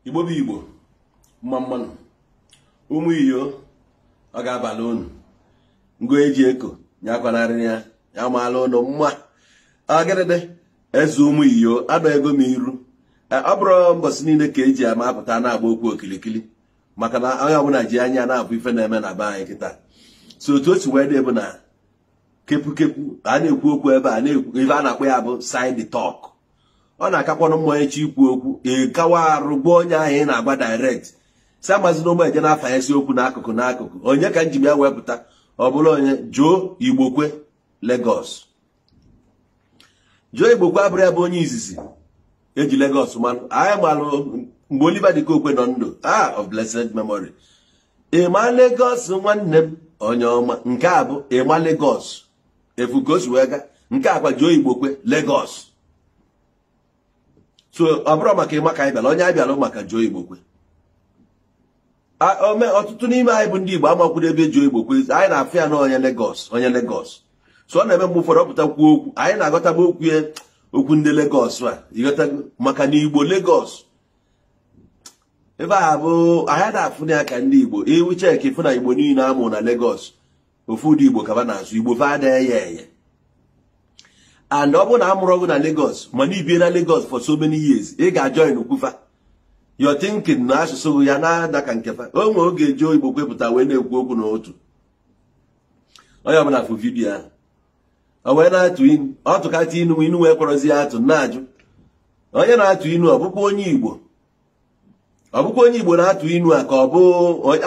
igbo bụ igbo mma mma nụ ụmụ iyo ọ ga-abalụ unu ngo eji eko nyakwanarị ya ya maala ụnụ mma agịrịdị eze ụmụ iyo adọ ego m iru e, ọ bụrọ mbọsị niile ka e ji ama apụta na-agba okwu okilikili maka na onye ọbụla ji anya na-afụ ife na-eme na be anyị kịta so otu o si wee dị bụ na kepukepu ka a na-ekwu okwu ebe a na-ekwu ife a na-akpọ ya bụ side talk ọ na-akakwanụ mma ị chọọ ikwu okwu ịkawa arụ gwa onye ahụ ị na-agwa direct si amazi na ụmụ eje na-afa esi okwu n'akụkụ n'akụkụ onye ka m ji maka ya wee pụta ọ bụrụ onye Joe Igbokwe Lagos Joe Igbokwe abụrọ ya bụ onye izizi e ji Lagos malụ anyị malụ mgbe Oliver De Coque nọ ndụ ah of blessed memory Emma Lagos nwanne m onye ọma nke a bụ Emma Lagos ị fụ ka o si wee ga nke a kwa Joe Igbokwe Lagos so ọ bụrọ maka Emma ka anyị bịara onye anyị bịara maka Joe Igbokwe ome ọtụtụ n'ime anyị bụ ndị Igbo amakwurọ ebe Joe Igbokwe anyị na-afụ ya na onye Lagos onye Lagos so ọ na-eme mgbe ụfọdụ ọ pụta kwuo okwu anyị na-aghọtaba okwu ya okwu ndị Lagos a ị ghọtago maka na Igbo Lagos ebe a bụ anyị na-afụ ya ka ndị igbo if you check ị fụ na igbo niile a mụ na Lagos ofu ụdị igbo ka fa na-asụ igbo fa ada eye eye and ọ bụrụ na amụrọ gị na Lagos mana i bie na Lagos for so many years ị ga-ajoinkwu fa your thinking na asụsụ ya na-ada ka nke fa o nwere oge Joe Igbokwe pụta wee na-ekwu okwu n'otu onye ọbụla fụ vidiyo ahụ o wee na-atụ inu ọ tụkata inu inu wee kpọrọzi ya atụ na-ajụ onye na-atụ inu a ọ bụkwa onye igbo ọ bụkwa onye igbo na-atụ inu a ka ọ bụ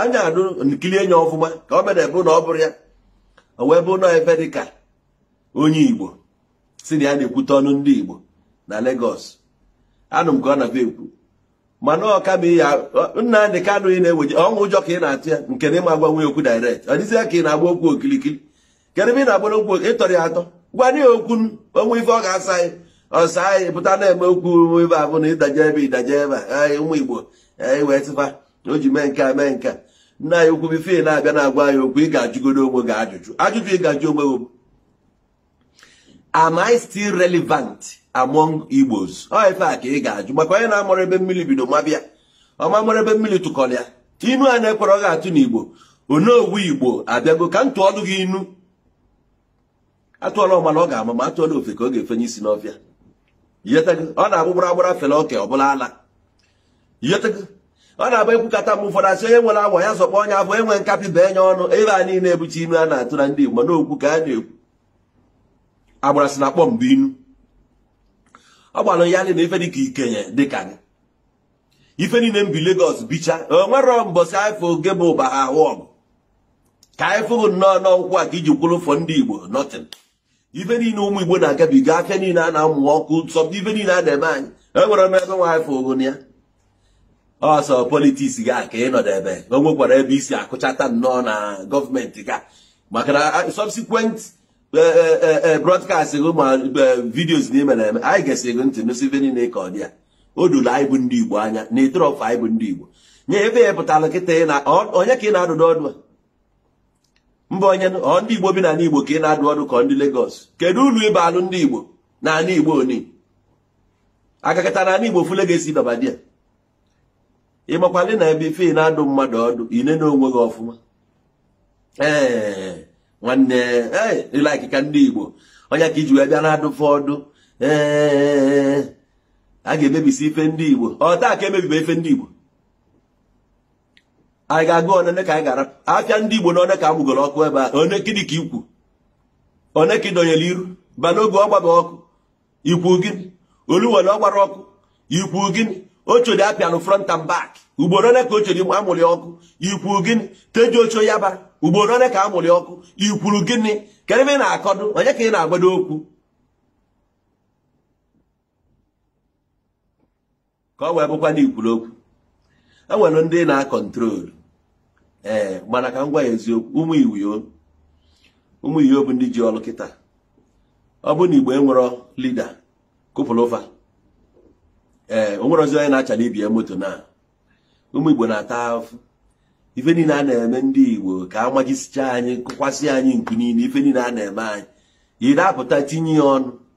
anyị adị ekili anya ọfụma ka ọ mere bụ na ọ bụrụ ya o wee bụ nọ ebe dị ka onye igbo sị na ya na-ekwute ọnụ ndị igbo na Lagos anụ m ka ọ na-abịa ekwu mana ọ ka bụ ihe Nnamdị Kanụ ị na-eweje ọnwụ ụjọ ka ị na-atụ ya nke na ị ma agwanwu ya okwu direct ọ dịzịa ka ị na-agba okwu okirikiri kedu ebe ị na-agbara okwu ị tọrọ ya atọ gwa ya okwu o nwee ife ọ ga-asa anyị ọ saa anyị pụta na-eme okwu ibe abụọ na ịdaje ebe ịdaje ebe anyị ụmụ Igbo anyị wee tịfa o ji mee nke a mee nke a nna anyị ukwu before ị na-abịa na-agwa anyị okwu ị ga-ajụgodo onwe gị ajụjụ ajụjụ ị ga-ajụ onwe gị am I still relevant among Igbos ọ ife a ka ị ga-ajụ maka onye na-amarọ ebe mmiri bido maba ya ọ ma mara ebe mmiri takọrọ ya inu a na-ekwerọ gị atụ n'Igbo Onowu Igbo abịago ka m tụọlụ gị inu atụọla ọmala ọ ga-ama ma atụọla ofeke ọ ga-efenye isi n'ọfịa ọ na-abụ gbara agbara fele oke ọ bụlụ ala ọ na-abụ ekwukata mgbe ụfọdụ asị onye nwere awọ ya zọkpọ onye afụ nwe nkapị bee nye ọnụ ebe a niile ebuchi inu a na-atụ na ndị Igbo n'okwu ka a na-ekwu agbara sị na akpọ mbụ inu ọ gbara ya na ife dịka ikenye dịka gị ife niile m bi Lagos bicha o nwere mbọsị anyị fụ gị ebe ụba ha ahụ ọgụ ka anyị fụghị nnọọ n'okwu a ka i ji kwuru ụfụ ndị Igbo nothing ife niile ụmụ igbo na-agabiga afịa niile a na-amụ ọkụ sọ ife niile a na-eme anyị enwerọ ebe anyị fụ gị ọ sọ politics gị ka ị nọdụ ebe o nwekwara ebe i si akụchata nnọọ na gọọmenti gị maka na subsequent e, e, e, broadcast gị ma videos ị na-eme na-eme anyị gesi gị ntị nọ sị ife niile ka ọ dị ya o doro anyị bụ ndị igbo anya na ịtụrọfụ anyị bụ ndị igbo nye ebe ya pụtara kịta onye ka ị na-adụ ọdụ a mba onye ọ ndị igbo bi n'ala igbo ka ị na-adụ ọdụ ka ndị Lagos kedu ulu ị baalụ ndị igbo n'ala igbo onye agakata n'ala igbo fule ga-esi dọba di ya ị makwalị na before ị na-adụ mmadụ ọdụ i nena onwe gị ọfụma ee nwanne ee ị like ka ndị igbo onye ka i ji wee bịa na-adụ fa ọdụ ee a ga-emebisi ife ndị igbo ọ taa ka emebibe ife ndị igbo anyị ga-agụ one ka anyị ghara afịa ndị Igbo na one ka amụgoro ọkụ ebe a one gịnị ka i kwu one ka ị dọnyere iru Balogun gbaba ọkụ i kwu gịnị Oluwole gbara ọkụ i kwu gịnị Oshodi apịanụ front and back ugboro one ka Oshodi amụrụ ọkụ i kwu gịnị Tejuosho Yaba ugboro one ka a mụrụ ọkụ i kwuru gịnị kedu ebe ị na-akọdụ onye ka ị na-agwadụ okwu ka ọ wee bụkwa na i kwuru okwu e nwere ndị na-acontrol ee eh, mana ka m gwa ya eziokwu ụmụ Igbo ụmụ Igbo bụ ndị ji ọrụ kịta ọ bụ na igbo enwerọ leader kwupụrụ fa ee eh, o nwerọzi onye na-achala ibe ya moto na ụmụ igbo na-ata afụfụ ife niile a na-eme ndị igbo ka a majisicha anyị kụkwasị anyị nkụ niile ife niile a na-eme anyị ị da apụta tinye ya ọnụ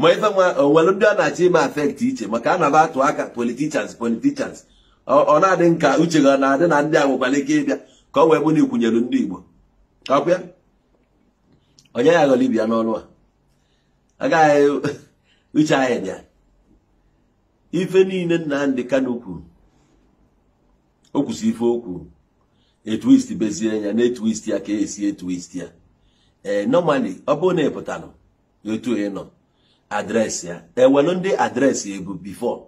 ma ife ma o nwere ndị a na-achọ ime affect iche maka a na-aba atụ aka politicians politicians ọ na-adị m ka uche gị na-adị na ndị a nwekwara ike ịbịa ka ọ wee bụ na i kwunyere ndị Igbo ọkwa onye ya ghọrọ ibe ya n'ọnụ a agaghị uche anyị dị ya ife niile Nnamdi Kanu kwuru o kwusị ife o kwuru etwist bezie ya na etwist ya ka esi etwist ya ee eh, normally ọ bụrụ na ị pụtara etu ị nọ address ya enwelu ndị address ebu before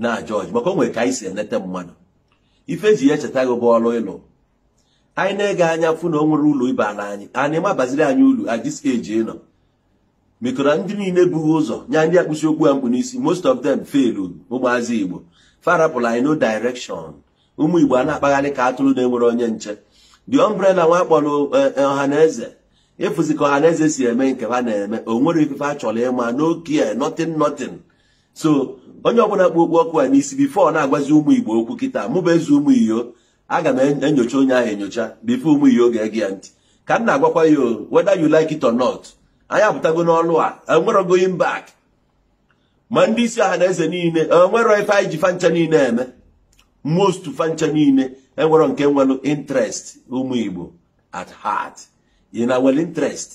na jọji maka o nwere ka anyị si enete mmadụ ife eji ya echeta gị bụ ọrụ ị lụ anyị na-ege anya afụ na o nwero ulu ị baala anyị ị ma abaziri anyị ulu at this age ị nọ mekọrọ ndị niile bu gị ụzọ nya ndị a kpusi okpu a m kpu n'isi most of them failed ụmụazị igbo fa rapụrụ anyị no direction ụmụ igbo a na-akpagharị ka atụrụ na-enwero onye nche the umbrella nwa kpọrọ eh, eh, ọha na eze ị fụzi ka ọha na eze si eme nke ha na-eme o nwero ife a chọrọ ịma n'okwu ya nothing nothing so onye ọbụla kpu okpu ọkụ a n'isi before ọ na-agwazi ụmụ igbo okwu kịta mụ bụ eze ụmụ iyo aga m enyocha onye ahụ enyocha before ụmụ iyo ga-ege ya ntị ka m na-agwakwa ya whether you like it or not anyị apụtago n'ọlụ a enwero going back ma ndị isi ọha na eze niile enwero ife anyị ji fa ncha niile eme most fa ncha niile enwero nke nwere interest ụmụ Igbo at heart ị na nwere interest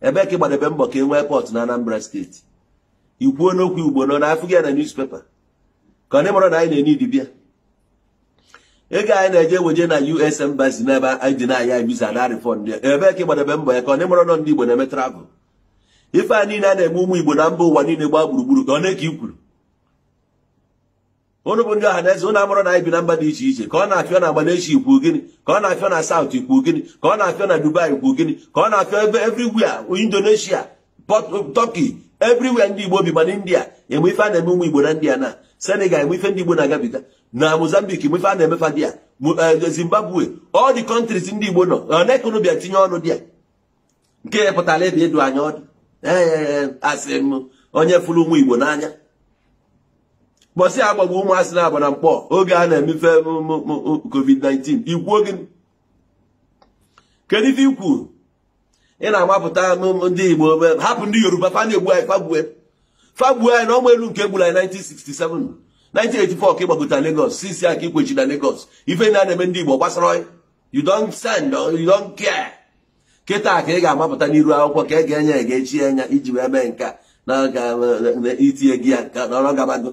ebe ka ị gbadebe mbọ ka e nwee port na Anambra state i kwuo n'okwu Igbo nọ na afụ gị na newspaper ka ụnụ amaro na anyị na-enye idibia ego anyị na-eje weje na US embassy n'ebe anyị deny anyị visa na refund ebe ka ị gbadebe mbọ ya ka ụnụ amaro na ndị Igbo na-eme travel ife a niile a na-eme ụmụ igbo na mba ụwa niile gbaa gburugburu ka o nwe nke i kwuru ụnụ bụ ndị ọha na eze ụnụ amaro na anyị bi na mba dị iche iche ka ọ na-afịọ na Malaysia i kwu gịnị ka ọ na-afịọ na South i kwu gịnị ka ọ na-afịọ na Dubai i kwu gịnị ka ọ na-afịọ ebe everywhere Indonesia Turkey everywhere ndị Igbo bi ma na India enwe ife a na-eme ụmụ Igbo na India na Senegal enwe ife ndị Igbo na-agabiga na Mozambique enwe ife a na-eme fa there eh, Zimbabwe all the countries ndị Igbo nọ o nwe nke ụnụ bịa tinye ọnụ there nke ya pụtara ebe ịdụ anyị ọdụ ee asị m onye fụrụ ụmụ igbo n'anya mbọsị a gbagbu ụmụazị na Aba na Nkpor oge a na-eme ife covid-19 i kwuo gị kedu ife i kwu ị na-agbapụta ndị igbo hapụ ndị yoruba fa na-egbu anyị fa egbue fa egbue anyị na ọma elu nke e gburu anyị 1967 1984 ka ị gbagota Lagos sisi aka ikwechi na Lagos ife na-eme ndị igbo agbasaro you don't send you don't care kịta ka ị ga-amapụta n'iru akwụkwọ ka e ga-enye ya ga-echi anya iji wee mee nke a na itinye gị ya ka nọrọ gabago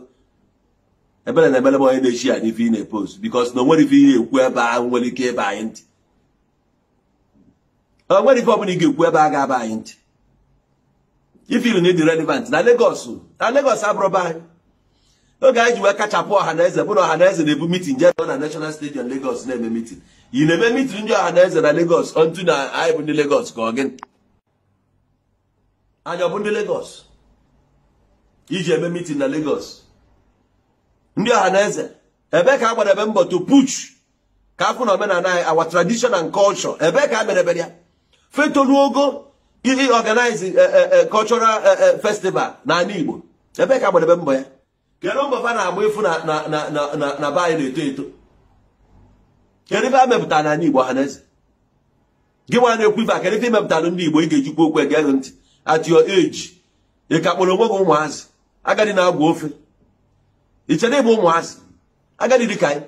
ebere na-emere m onye na-echi ya n'ife ị na-epost because na o nwero ife ị ya-ekwu ebe a nwere ike ịba anyị ntị o nwero ife ọbụla ị ga-ekwu ebe a ga-aba anyị ntị ị feel na ị dị relevant na Lagos na Lagos abụrọ be anyị oge anyị ji wee kachapụ ọha na eze bụ na ọha na eze na-ebu meeting jee na National Stadium Lagos na-eme meeting ị na-eme meeting ndị ọha na eze na Lagos onto na anyị bụ ndị Lagos ka ọ gịnị anyị ọ bụ ndị Lagos i ji eme meeting na Lagos ndị ọha na eze ebe ka a gbadebe mbọ to push ka afụ na omenala anyị our tradition and culture ebe ka a merebere ya ife tolu ogo iji organize eh, eh, eh, cultural festival n'ala Igbo ebe ka a gbadebe mbọ ya kedu mbọ fa na-agba ịfụ na be anyị na-eto eto kedu ife a mepụtara n'ala Igbo Ọhaneze gị nwa na-ekwu ife a kedu ife i mepụtara ndị Igbo ị ga-eji kwuo okwu e gee gị ntị at your age ị ka kpọrọ onwe gị ụmụazị agadi na-agwọ ofe ichere ịbụ ụmụazị agadi dị ka anyị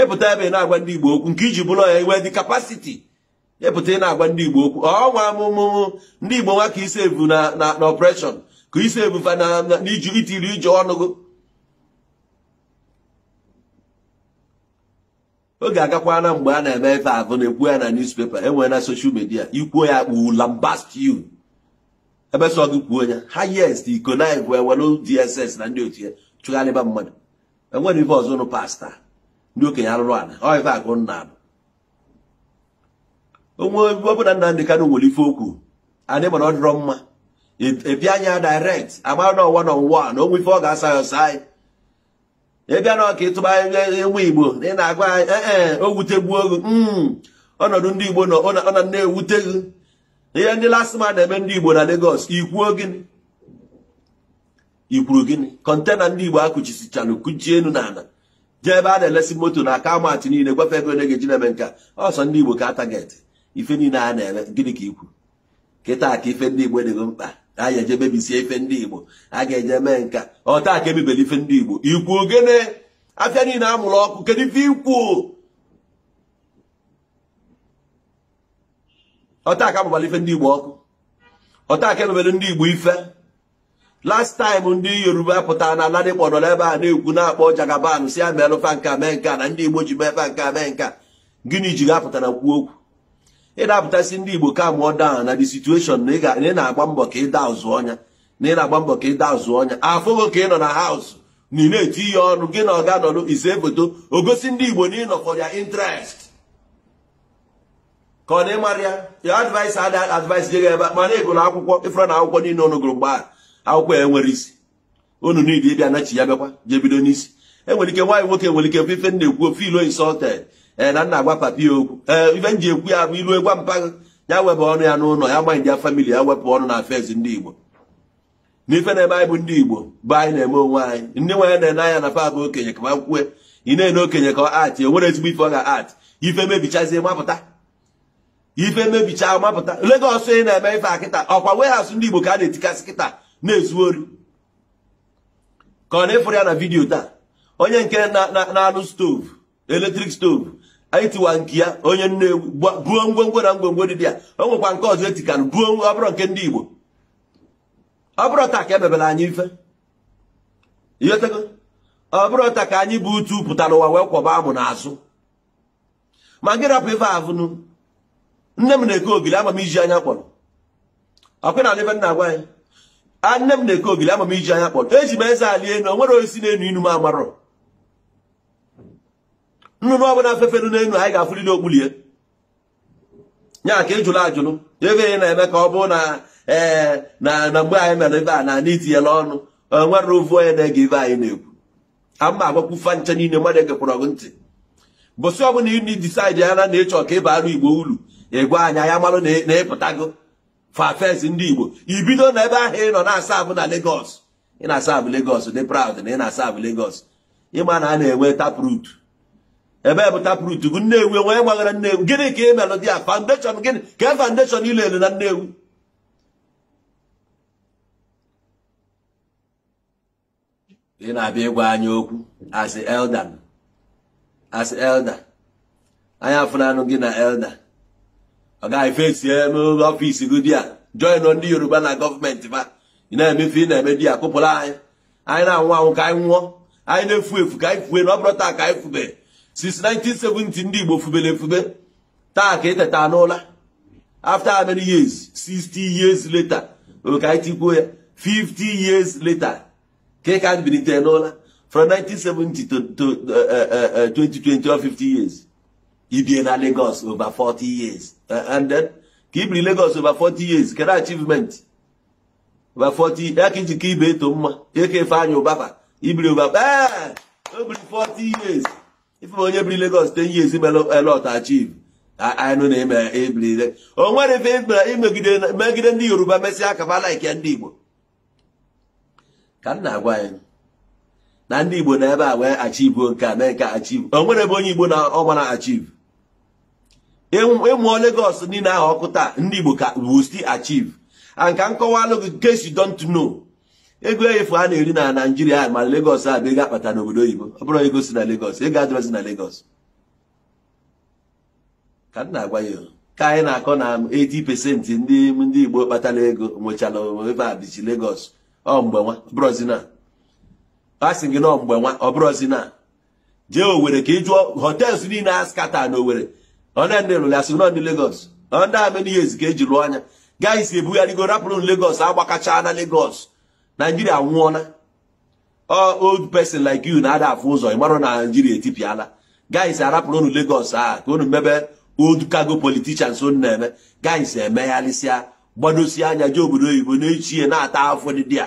ịpụta ebe ị na-agwa ndị Igbo okwu nke iji bụrụ ya i nwedị capacity ịpụta ị na-agwa ndị Igbo okwu ọnwa amụmụ ndị Igbo nwa ka isi evu na na oppression ka isi evu fa na iji itiri ije ọnụ gị oge agakwana mgbe a na-eme ife ahụ na-ekwu ya na newspaper enwere na social media ikwuo ya kpụ lambast you ebe sọ gị kwuo ya highest iko na igwe ewere DSS na ndị otu ya chụgharịba mmadụ enwere ife ọzọ nụ pasta ndị okenye arụrụ ala ọ ife akụ nna alụ onwe ọbụla Nnamdi Kanu nwere ife okwu anyị ma na ọ dịrọ mma ịbịa anya direct agbara na one on one o nwee ife ọ ga-asa ya ọsa anyị ịbịa na Ọka ịtụba ụmụ igbo na ị na-agwa anyị ee eh, eh, o wutegbuo gị hmm, ọnọdụ ndị igbo nọ ọ na na-ewute gị ihe ndị LASTMA na-eme ndị igbo na Lagos ikwuo gịnị ikwuru gịnị kọntena ndị igbo akụchisichara kụchie elu n'ala jee ebe a na-elesi moto na car mart niile gwa fa ego a ga-eji na-eme nka ọ sọ ndị igbo ka a target ife niile a na-eme gịnị ka ikwu kịta ka ife ndị igbo dị gị mkpa a ga-eje mebisie ife ndị igbo a ga-eje mee nka ọ taa ka emebere ife ndị igbo ikwuo gịnị afịa niile amụrụ ọkụ kedu ife ikwu ọ taa ka amụbara ife ndị igbo ọkụ ọ taa ka emebere ndị igbo ife last time ndị yoruba pụtara na Ladipo nọ n'ebe a na-ekwu na-akpọ Jagaban si ya meelụ fa nka mee nka na ndị igbo ji mee fa nka mee nka gịnị ji gị apụta na-ekwu okwu ị na-apụta sị ndị igbo calm down na the situation na ị na-agba mbọ ka ịda ụzụ ọnya na ị na-agba mbọ ka ịda ụzụ ọnya afụgo ka ị nọ na house na ị na-etinye ọnụ gị na ọga nọlụ ise foto egosi ndị igbo na ịnọ for their interest ka ọ na ịmara ya ya advice ada advice je ebe ma na ịgụrụ akwụkwọ ịfụrụ na akwụkwọ niile unu gụrụ mgbe a akwụkwọ ya enwere isi unu niile ịbịa nachi ya bịakwa jee bido n'isi enwere ike nwa ya nwoke nwere ike ife m na-ekwu ọ feel insulted ee eh, na m na-agwa papa ya okwu ee eh, ife m ji ekwu ya bụ i lue gwa mpa gị ya wepụ ọnụ ya n'ụlọ ya ma ndị ya family ya wepụ ọnụ na affairs ndị Igbo n'ife na-eme anyị bụ ndị Igbo bụ anyị na-eme onwe anyị ndị anyị na-ene anya na fa bụ okenye ka ma kwue ị na-ene okenye ka ọ act enwerọ ezigbo ife ọ ga act ife mebichazie mapụta ife mebicha mapụta Lagos ị na-eme ife a kịta ọkwa warehouse ndị Igbo ka a na-etikasị kịta na-ezu ori ka ọ na ị fụrụ ya na vidiyo taa onye nke na-alụ stove electric stove anyị tiwa nke ya onye Nnewi buo ngwongwo na ngwongwo dị ya o nwekwa nke ọzọ etikanụ buo ọ bụrụ nke ndị Igbo ọ bụrọ taa ka e mebere anyị ife ọ bụrọ taa ka anyị bu utu pụta n'ụwa wee kwọba amụ n'azụ ma gị rapụ ife avụ nụ nne m na-eke ogili ama m ijiji anya kpọrọ ọkwa na ife m na-agwa anyị nne m na-eke ogili ama m ijiji anya kpọrọ eji m eze ali enu o nwerọ osisi na-enu inu m amarọ nnụnụ ọbụna fefelu n'enu anyị ga-afụlịlị okpulu ya ya ka ị jụrụ ajụrụ ebe ị na-eme ka ọ bụrụ na ee eh, na na mgbe anyị mere ebe a na ana itinyela ọnụ enwerọ ovu onye na-ege ife anyị na-ekwu ama agwakwu fa ncha niile mmadụ egekwara gị ntị ụbọsị ọbụna ị decide na ị chọ ka ị baarụ Igbo ulu ị gwa anyị anyị amarụ na ị pụtago face ndị Igbo i bido na ebe ahụ ị nọ na-aserve na Lagos ị na-aserve Lagos dị proud na ị na-aserve Lagos ị ma na a na-enwe taproot ebe bụ taproot bụ Nnewi onwe gbaghara Nnewi gịnị ka ị melụ there foundation gịnị kee foundation ị laylụ na Nnewi ị na-abịa ịgwa anyị okwu as elder as elder anyị afụnanụ gị na elder oga face office gị there join ndị Yoruba na gọọmenti ba ị na-eme ife ị na-eme there kụpụrụ anyị anyị na-anwụ anwụ ka anyị nwụọ anyị na-efu efu ka anyị fue na ọ bụrọ taa ka anyị fube since 1970 ndị Igbo fubere efube taa ka e teta n'ụla after how many years 60 years later ka anyị tikwuo ya 50 years later ka ị ka ebilite n'ụla from 1970 to 2020 or 50 years i bie na Lagos over 40 years eh, and then ka i biri Lagos over 40 years kedu achievement over 40 years ka i ji ka ibe eto mma eke ife anya ụbaba i biri over ee o biri 40 years ife onye biri Lagos 10 years mere a lot achieve anụ na-eme ebiri o nwere ife megide ndị Yoruba mesịa aka ba like ya ndị Igbo ka m na-agwa anyị na ndị Igbo nọ ebe a wee achieve nke a mee nke achieve o nwere ebe onye Igbo na ọgba na achieve ị mụọ Lagos niile ahụ ọkụ taa ndị Igbo ka will still achieve and ka m kọwaalụ gị case you don't know ego efu a na-eri na Naịjirịa ma Lagos a bụ ego a kpata n'obodo oyibo ọ bụrọ ego si na Lagos ego adịrọzi na Lagos ka m na-agwa ya ka anyị na-akọ na 80 pesenti ndị ndị Igbo kpatara ego nwechara ebe a bichi Lagos ọ mgbe nwa brọzi na a sị gị na ọ mgbe nwa ọ brọzi na jee Owerri ka ị jụọ hotels niile a scatter na Owerri ọ na ndị lụrụ ya sị na ọ ndị Lagos ọ ndị how many years ka eji lụọ anya guys ebugharịgo rapụrụ Lagos agbakacha na Lagos Naijiria anwụọna old person like you na-ada afụ ụzọ ịmarọ na Naijiria etipịala guys arapụrụ unu Lagos a ka unu mebe old cargo politicians unu na-eme guys emegharịsịa gbadosie anya jee obodo oyibo n'echie na-ata afụfụ dị ya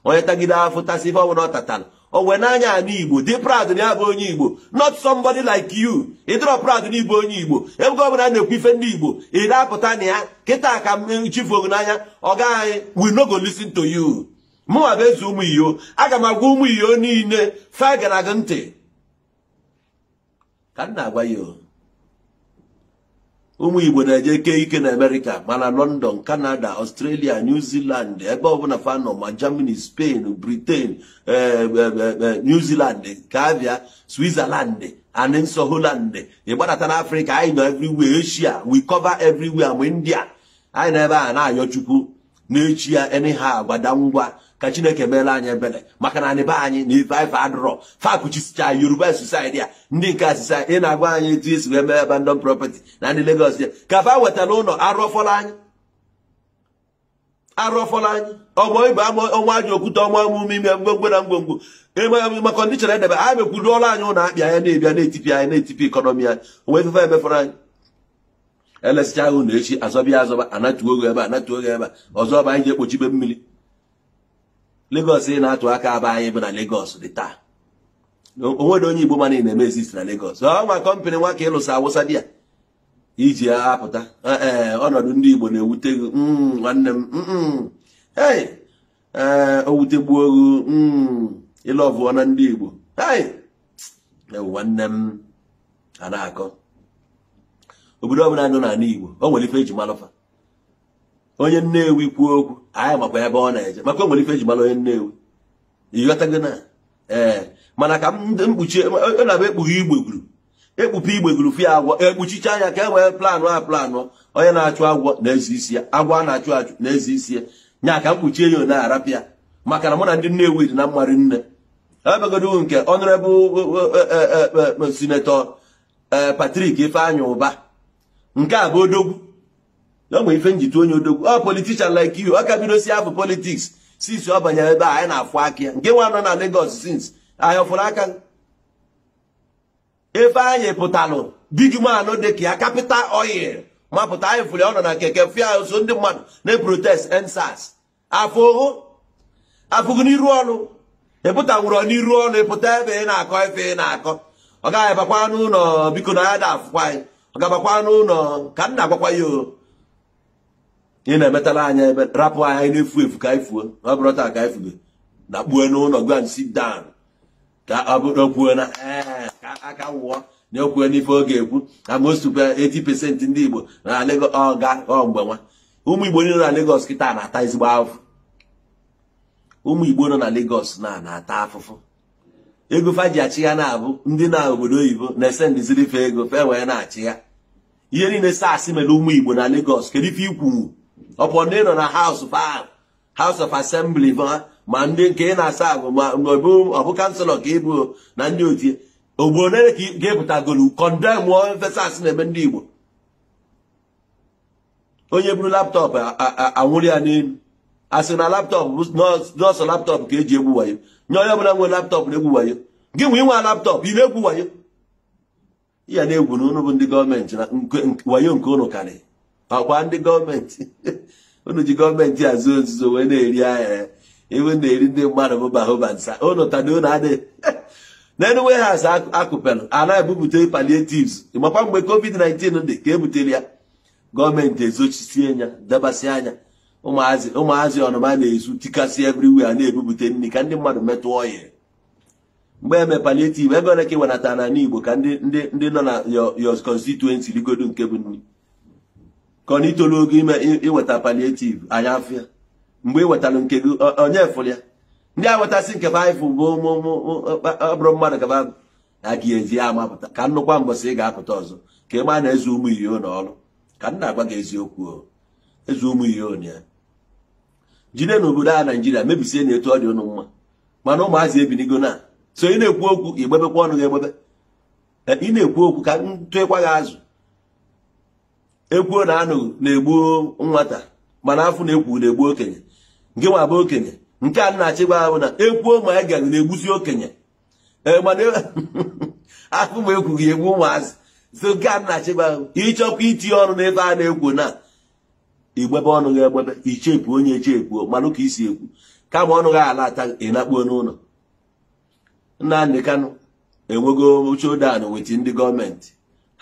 onye tagide afụfụ tasịa ife ọbụla ọ tatara o wee n'anya ana igbo dị proud na ya bụ onye igbo not somebody like you ịdịrọ proud na ị bụ onye igbo ebe ọ bụla na-ekwu ife ndị igbo ị na-apụta na ya kịta ka chifu ogu n'anya oga we no go listen to you mụnwa bụ eze ụmụ iyo aga m agwa ụmụ iyo niile fa ga na-ege ntị ka m na-agwa ya ụmụ igbo na-eje ike ike na amerịka ma na london canada australia new zealand ebe ọbụla fa nọ ma germany spain britain eh, eh, eh, new zealand ka a bịa switzerland and also holland ịgbadata na afrịka anyị nọ everywhere asia we cover everywhere ma india anyị nọ ebe a na-ayọ chukwu n'echi ya ene ha agwada ngwa ka chineke meela anyị ebere maka na anị be anyị na ife ife adịrọ fa kuchisicha yoruba society a ndị nke asịsa ị na-agwa anyị etu esi wee mee abandon property na ndị Lagos ya ka fa wetara ụlọ arụọfọla anyị arụọfọla anyị ọgbọ ibe ọnwa aja okwute ọnwa emume ime ngwongwo na ngwongwo ma kọndishọn edebe a mekwuruola anyị ụlọ akpịa ya na-ebịa na-etipi anyị na-etipi ekọnọmi anyị onwe ife fa emefọrọ anyị elesịcha ahụ na echi azọba ya azọba anatuo oge ebe anatuo oge ebe ọzọ bụ anyị ji ekpochibe mmiri Lagos ị na-atụ aka ọ bụ anyị bụ na Lagos dị taa onwere onye Igbo ma na ị na-eme exist na Lagos ọ nwa kọmpanị nwa ka ịlụsa awụsa di ya iji apụta ee ọnọdụ ndị Igbo na-ewute gị mm, nwanne m mm, mm. ee o wutegbuo gị ị lọvụọna ndị Igbo nwanne m a na-akọ obodo ọbụla nọ n'ala Igbo o nwere ife eji malụ fa onye Nnewi kwuo okwu anyị makwa ebe ọ na-eje maka o nwere ife eji malụ onye Nnewi ịghọtago na ee mana ka m kpuchie ọ na-abụ ekpughe igbeguru ekpupu igbeguru fụ agwọ ekpuchicha anya ka e nwee planụ a planụ onye na-achụ agwọ na-eze isi ya agwọ a na-achụ achụ na-eze isi ya nya ka m kpuchie ya na-arapụ ya maka na mụ na ndị Nnewi dị na mma rinne ebegodo nke Honorable Senator Patrick Ifeanyi Ụba nke a bụ odogwu na e nwe ife nji tụ onye odogwu ọ politician like you ọ ka bido si afọ politics since ọ banyere ebe a anyị na-afụ aka ya nke nwa nọ na Lagos since anyị ọ fụrụ ka Ifeanyi pụtalụ big man dị ka ya Capital Oil ma pụta anyị fụrụ ọ nọ na keke fia so ndị mmadụ na-eprotest EndSARS afụhọ afụghị n'iru ọnụ ịpụta nwụrụ n'iru ọnụ ịpụta ebe ị na-akọ ife ị na-akọ ọga bakwa n'ụnọ biko na ya da afụkwa anyị ọga bakwa n'ụnọ ka m na-agwakwa ya o ị na-emetara anya ebe rapụ anyị na-efu efu ka anyị fuo ọ bụrụ taa ka anyị fube na kpuo n'ụnọ go and sit down ka ọ bụrụ okwuo na ee ka aka wụọ na okwuo n'ife ọ ga-ekwu na mostukwa 80 percent ndị Igbo na Lagos ọga ọ mgbe nwa ụmụ Igbo niile na Lagos kịta na-ata ezigbo afụfụ ụmụ Igbo nọ na Lagos na na-ata afụfụ ego fa ji achị ya na-abụ ndị na obodo oyibo na-esendiziri fa ego fa wee na-achị ya ihe niile SARS mere ụmụ Igbo na Lagos kedu ife ikwunwu ọpụ ndị nọ na house fa House of Assembly ma ma ndị nke ị na-asa ahụ ma ọbụ ọbụ councillor ka ị bụ na ndị otie ugbo ole ka ị pụtagolu condemn ife SARS na-eme ndị Igbo onye buru laptop anwụde ya n'enu asị na laptop na ọ sọ laptop ka eji egwu wayo na onye ọbụla nwere laptop na-egwu wayo gị nwa i nwe laptop ị na-egwu wayo ya na-egwu na unu bụ ndị gọọmenti na wayo nke unu karị ọkwa ndị gọọmenti unu ji gọọmenti azụ ozuzo wee na-eri ahịa e wee na-eri ndị mmadụ bụ bahoba nsa unu tadị unu adịghị n'elu warehouse akụpelụ a na-ebupụta palliatives makwa mgbe covid-19 dị ka ebutere ya gọọmenti ezochisie ya debasị ya ụmụazị ụmụazị ọnụma na-ezu tikasị everywhere na-ebupụta nri ka ndị mmadụ metụ ọhịa mgbe eme palliative ego ole ka i wenata n'Igbo ka ndị ndị ndị nọ na your constituency rigodo nke bụ nri ka ọ na itolu ogo ime iweta palliative anyị afụ ya mgbe ị wetara nke gị onye fụrụ ya ndị a wetasị nke baịbụ bụ ọbụrụ mmadụ gaba na gị ezi ya amapụta ka nnukwu mbọsị ị ga-apụta ọzọ ka ị ma na eze ụmụ iyo na ọrụ ka m na-agwa gị eziokwu eze ụmụ iyo na ya jide n'obodo a Naịjirịa mebisie na etu ọ dị ụnụ mma mana ụmụazị ebinigo na so ị na-ekwu okwu igbebekwa ọnụ gị egbebe e, ị na-ekwu okwu ka ntụekwa gị azụ ekwuo na anụ na-egbu nwata mana afụ na-ekwu na-egbu okenye nke nwa bụ okenye nke a na-achị gwa ahụ na ekwuo ma anụghị na-egbusi okenye e, mana afụ ma ekwughị egbu ụmụazị so nke a na-achị gwa ahụ ịchọkwa itinye ọnụ n'ebe a na-ekwu na igbebe ọnụ gị egbebe ichepu onye echepu manụ ka isi ekwu kama ọnụ gị ala ata ị nakpuo n'ụlọ Nnamdi Kanu enwego chodan weti ndị gọọmenti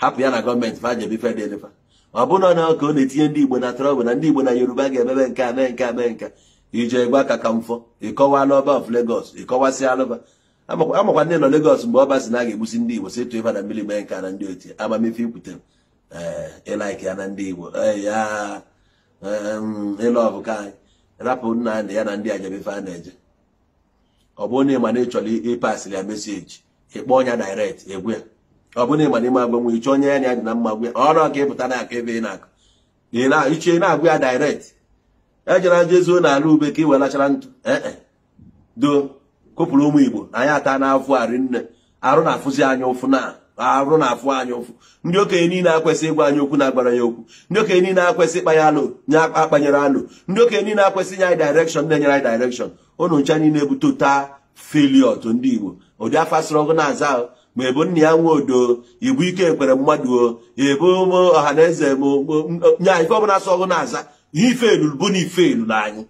hapụ ya na gọọmenti fa jebe fedelifa ọ bụrụ na ka ọ na-etinye ndị Igbo na trouble na ndị Igbo na Yoruba ga-emebe nke a mee nke a mee nke a ije gwa aka ka mfọ ịkọwa na Ọba of Lagos ịkọwasị alụba amakwa ndị nọ Lagos mgbe ọba si na a ga-egbusi ndị Igbo si tụba na mmiri mee nke a na ndị oti ama m ife i kwutere ị like eh, ya na ndị Igbo eh, ya ị love ka anyị rapụ nna na ya na ndị a jebe ife a na-eje ọ bụrụ na ịma na ị chọrọ ịpasịrị ya message ị kpọọ ya direct gwa ya ọ bụrụ na ịma na ịma agwanwu ị chọọ onye ya na ya dị na mma gwa ọrọ ka ịpụta na aka ebe ị na-akụ iche na-agwa ya direct ejere aja ezuo n'ala ube ka ị wee lachara ntụ ee eh, do kopụrụ ụmụ igbo anyị atana afụfụ rinne arụ na-afụzi anyị ụfụ na arụ na-afụ anyị ụfụ ndị okenye niile akwesị ịgwa anyị okwu na-agwarọ anyị okwu ndị okenye niile akwesị ịkpanye alo na-akpanyerọ alo ndị okenye niile akwesị inye anyị direction na-enyerọ anyị direction ụnụ ncha niile bụ total failure to ndị Igbo ụdị afa sọrọ gị na-aza ahụ ma ị bụ Nnia Nwodo ị bụ Ike Ekweremadu ọ ị bụ Ọhaneze nye anyị ife ọbụla sọ gị na-aza ihe ị failụlụ bụ na ị failụlụ anyị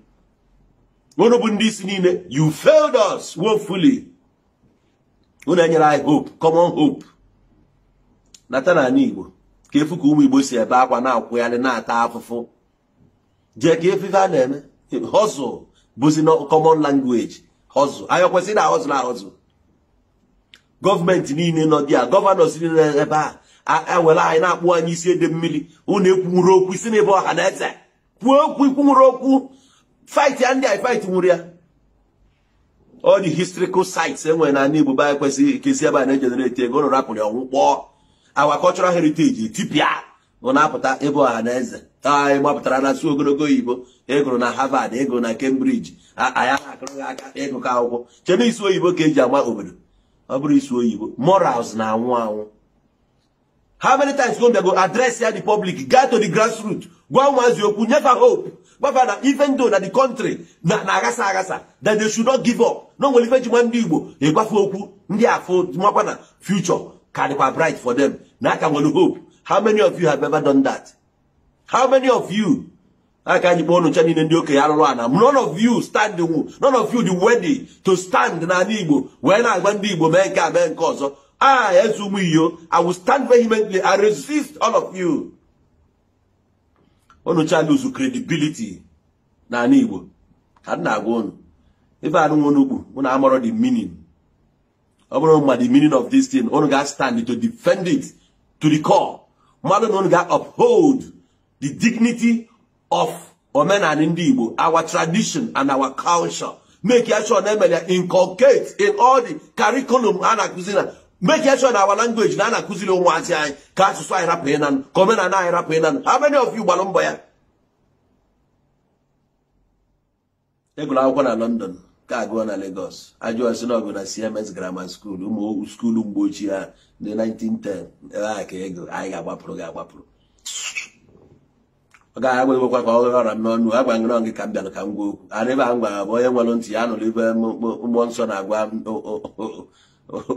unu bụ ndị isi niile you failed us woefully unu enyerọ anyị hope common hope nata na anị igbo ka ị fụ ka ụmụ igbo si ebe akwa na-akwụgharị na-ata afụfụ jee ka ị fụ ife a na-eme hustle bụzi na common language hustle anyị kwesịrị na hustle na hustle gọọmenti niile nọ dị a governors niile ebe a ewere anyị na-akpụ anyị isi ede mmiri unu ekwunwurọ okwu ị sị na ị bụ Ọhaneze kwuo okwu i kwunwurọ okwu fight ya ndị fight nwurọ ya all the historical sites enwere na ala Igbo be anyị kwesịrị ka esi ebe a na-egenerate ego ụnụ rapụrụ ọ nwụkpọọ our cultural heritage etipịa ị na-apụta ị bụ Ọhaneze anyị gbapụtara na-asụ ogologo oyibo ị gụrụ na Harvard ị gụrụ na Cambridge anyị na-akụrụ gị aka ị gụkọ akwụkwọ chebe ịsụ oyibo ka eji agba obodo ọ bụrọ ịsụ oyibo morals na-anwụ anwụ how many times go go address ya the public gaa to the grassroots gwa ụmụazị okwu nye fa hope gwa fa na even though na the country na-aghasa aghasa that they should not give up na o nwere ife e ji ma ndị igbo ị gwa fa okwu ndị a fa amakwa na future ka dịkwa bright for them na a ka nwere hope how many of you have ever done that how many of you aka anyị kpọ unu ncha niile ndị okenye alụrụ ana none of you stand none of you dị ready to stand n'ala igbo wee na-agwa ndị igbo mee nke a mee nke ọzọ ah eze ụmụ iyo i will stand vehemently and resist all of you unu ncha lose credibility n'ala igbo ka m na-agwa unu ife anụnwa unu kpu unu amarọ the meaning ọ bụrụ ma the meaning of this thing unu ga-stand to defend it to the core mmadụ na unu ga-uphold the dignity of omenala ndị Igbo our tradition and our culture make ya sure na e mere ya inculcate in all the curriculum a na-akụzi na make ya sure na our language na a na-akụziri ụmụazị anyị ka asụsụ anyị rapụ ịnanụ ka omenala anyị rapụ ịnanụ how many of you gbara mbọ ya a gụrụ akwụkwọ na London ka a gụọ na Lagos a jụọ sị na ọ gụ na CMS Grammar School ụmụ skuulu mgbe ochie ha ndị 1910 ebe a ka ego anyị ga-agbapụrụ ga-agbapụrụ ọ gaghị agwa egwekwa ka ọ ghere ọ ra m n'ọnụ agwa ngịrọ gị ka m bịara ka m gwa okwu ana ebe a m gwara bụ onye nwere ntị ya nụrụ ife mmụọ nsọ na-agwa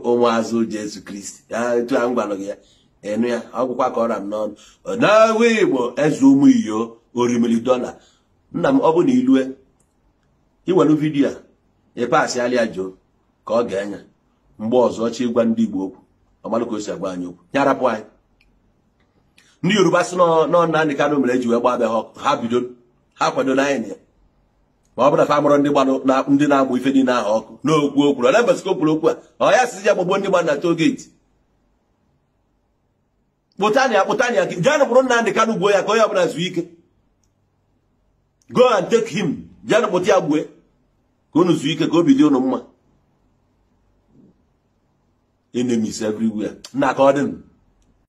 ụmụazụ Jesu Kristi ya etu a m gwara gị ya enu ya ọ gwụkwa ka ọ ra m n'ọnụ na-agwa Igbo eze ụmụ iyo orimiri dọla nna m ọ bụ na i lue i welu vidiyo a ị pasịala ya Joe ka ọ ga-enye mgbe ọzọ ọ chọ ịgwa ndị Igbo okwu ọ malụ ka o si agwa anyị okwu ya rapụ anyị ndị Yoruba sị na ọ Nnamdi Kanu mere e ji wee gbaa abịa ha bido ha kwado na anyị na ya ma ọ bụrụ na fa mụrụ ndị gbanụ na ndị na-amụ ife niile ahụ ọkụ n'okwu o kwuru ole mbọsị ka o kwuru okwu a ọ ya sịzi ya gbagbuo ndị gba na toll gate kpụtanụ ya kpụtanụ ya janụ kpụrụ Nnamdị Kanụ gbuo ya ka onye ọbụla zuo ike go and take him janụ kpụta ya gbue ka unu zuo ike ka obi dị unu mma enemies everywhere nna ka ọ dị